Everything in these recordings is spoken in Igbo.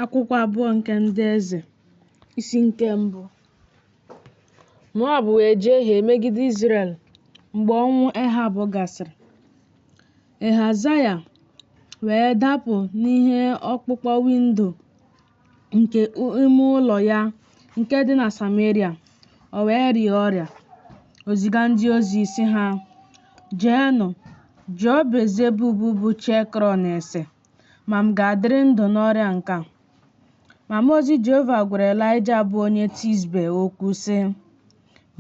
Akwụkwọ abụọ nke ndị eze isi nke mbụ Moab wee jehie megide Izrel mgbe ọnwụ Ehab gasịrị. Ehazaya wee dapụ n'ihe ọkpụkpọ windo nke ime ụlọ ya nke dị na Sameria, o wee rịa ọrịa. O ziga ndị ozi sị ha, Jeenụ jụọ Belzebub bụ chi Ekrọn ese. ma m ga-adịrị ndụ n'ọrịa nke a. Ma mmụọ ozi Jehova gwara Elaịja bụ onye Tisbe okwu, sị,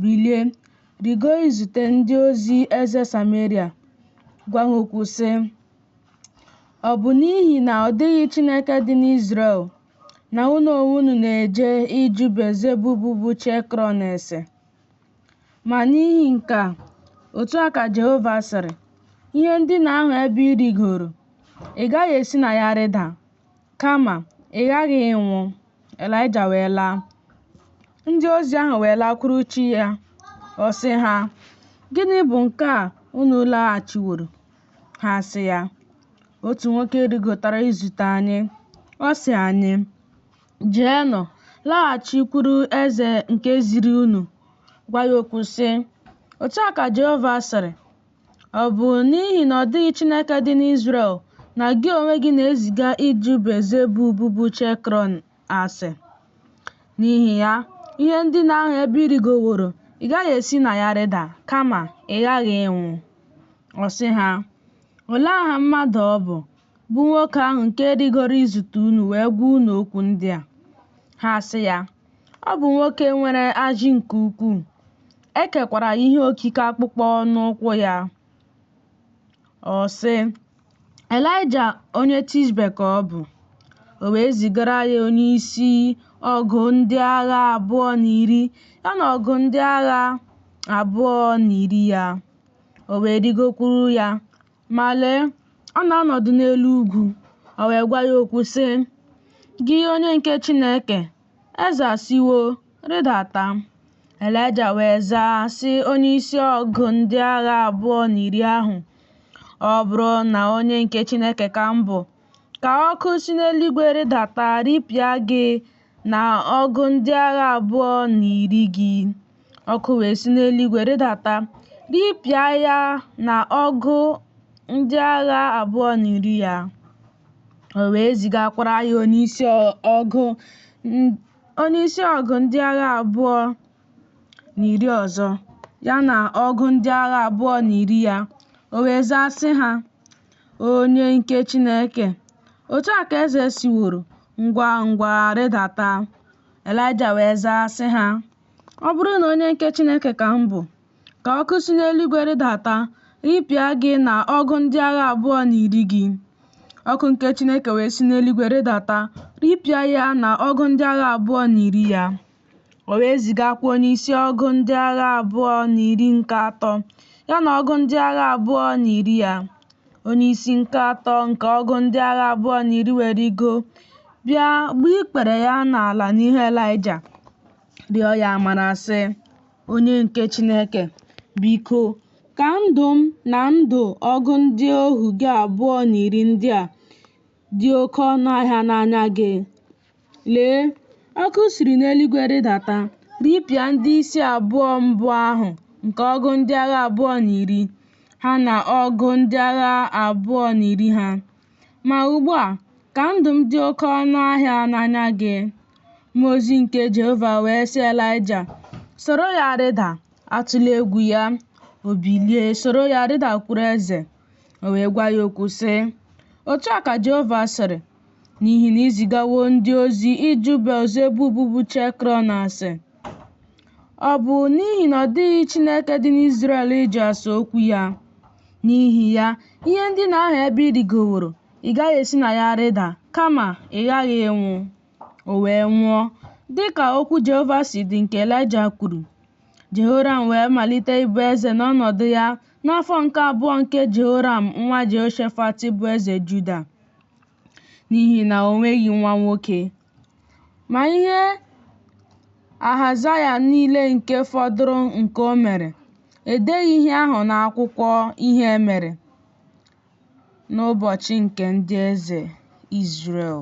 Bilie, rịgo izute ndị ozi eze Sameria, gwa ha okwu, sị, Ọ bụ n'ihi na ọ dịghị Chineke dị n'Izrel na unu onwe unu na-eje ịjụ Belzebub bụ chi Ekrọn ese. Ma n'ihi nke a, otu a ka Jehova sịrị, ihe ndina ahụ ebe ị rịgoro, ị gaghị esi na ya rịda, kama ị ghaghị ịnwụ. Elaịja wee laa. Ndị ozi ahụ wee lakwuruchi ya, ọ sị ha, Gịnị bụ nke a unu laghachiworo? Ha sị ya, Otu nwoke rịgotara izute anyị. Ọ sị anyị, Jeenụ, laghachikwuru eze nke ziri unu, gwa ya okwu sị, Otu a ka Jehova sịrị, Ọ bụ n'ihi na ọ dịghị Chineke dị n'Izrel na gị onwe gị na-eziga ịjụ Belzebub bụ chi Ekrọn ase. N'ihi ya, ihe ndina ahụ ebe ị rịgoworo, ị gaghị esi na ya rịda, kama ị ghaghị ịnwụ. Ọ sị ha, Olee aha mmadụ ọ bụ, bụ nwoke ahụ nke rịgoro izute unu wee gwa unu okwu ndị a. Ha sị ya, Ọ bụ nwoke nwere ajị nke ukwuu, e kekwara ihe okike akpụkpọ n'ukwu ya. Ọ sị, Elaịja onye Tishbe ka ọ bụ. O wee zigara ya onye isi ọgụ ndị agha abụọ na iri ya na ọgụ ndị agha abụọ na iri ya. O wee rịgokwuru ya, Ma lee, ọ na-anọdụ n'elu ugwu, o wee gwa ya okwu sị, Gị onye nke Chineke, eze asịwo, rịdata. Elaịja wee zaa sị onyeisi ọgụ ndị agha abụọ na iri ahụ, Ọ bụrụ na onye nke Chineke ka m bụ, ka ọkụ si n'eluigwe rịdata ripịa gị na ọgụ ndị agha abụọ na iri gị. Ọkụ wee si n'eluigwe rịdata ripịa ya na ọgụ ndị agha abụọ na iri ya. O wee zigakwara ya onyeisi ọgụ ndị agha abụọ na iri ọzọ ya na ọgụ ndị agha abụọ na iri ya. O wee zaa sị ha, Onye nke Chineke. Otu a ka eze sịworo, ngwa ngwa rịdata. Elaịja wee zaa sị ha, Ọ bụrụ na onye nke Chineke ka m bụ, ka ọkụ si n'eluigwe rịdata ripịa gị na ọgụ ndị agha abụọ na iri gị. Ọkụ nke Chineke wee si n'eluigwe rịdata ripịa ya na ọgụ ndị agha abụọ na iri ya. O wee zigakwa onyeisi ọgụ ndị agha abụọ na iri nke atọ, ya na ọgụ ndị agha abụọ na iri ya. Onyeisi nke atọ nke ọgụ ndị agha abụọ na iri wee rịgo bịa gbuo ikpere ya n'ala n'ihu Elaịja, rịọ ya amara sị, Onye nke Chineke, biko, ka ndụ m na ndụ ọgụ ndị ohu gị abụọ na iri ndị a dị oke ọnụ ahịa n'anya gị. Lee, ọkụ siri n'eluigwe rịdata ripịa ndị isi abụọ mbụ ahụ nke ọgụ ndị agha abụọ na iri ha na ọgụ ndị agha abụọ na iri ha. Ma ugbu a, ka ndụ m dị oke ọnụ ahịa n'anya gị. Mmụọ ozi nke Jehova wee sị Elaịja, Soro ya rịda, atụla egwu ya. O bilie soro ya rịdakwuru eze. O wee gwa ya okwu sị, Otu a ka Jehova sịrị, n'ihi na i zigawo ndị ozi ịjụ Belzebub bụ chi Ekrọn ase. Ọ bụ n'ihi na ọ dịghị Chineke dị n'Izrel ịjụ ase okwu ya. N'ihi ya, ihe ndina ahụ ebe ị rịgoworo, ị gaghị esi na ya rịda, kama ị ghaghị ịnwụ. O wee nwụọ, dị ka okwu Jehova si dị nke Elaịja kwuru. Jehoram wee malite ịbụ eze n'ọnọdụ ya n'afọ nke abụọ nke Jehoram nwa Jehoshafat bụ eze Juda n'ihi na o nweghị nwa nwoke. Ma ihe Ahazaya niile nke fọdụrụ nke o mere, edeghị ihe ahụ n'akwụkwọ ihe e mere n'ụbọchị nke ndị eze Izrel.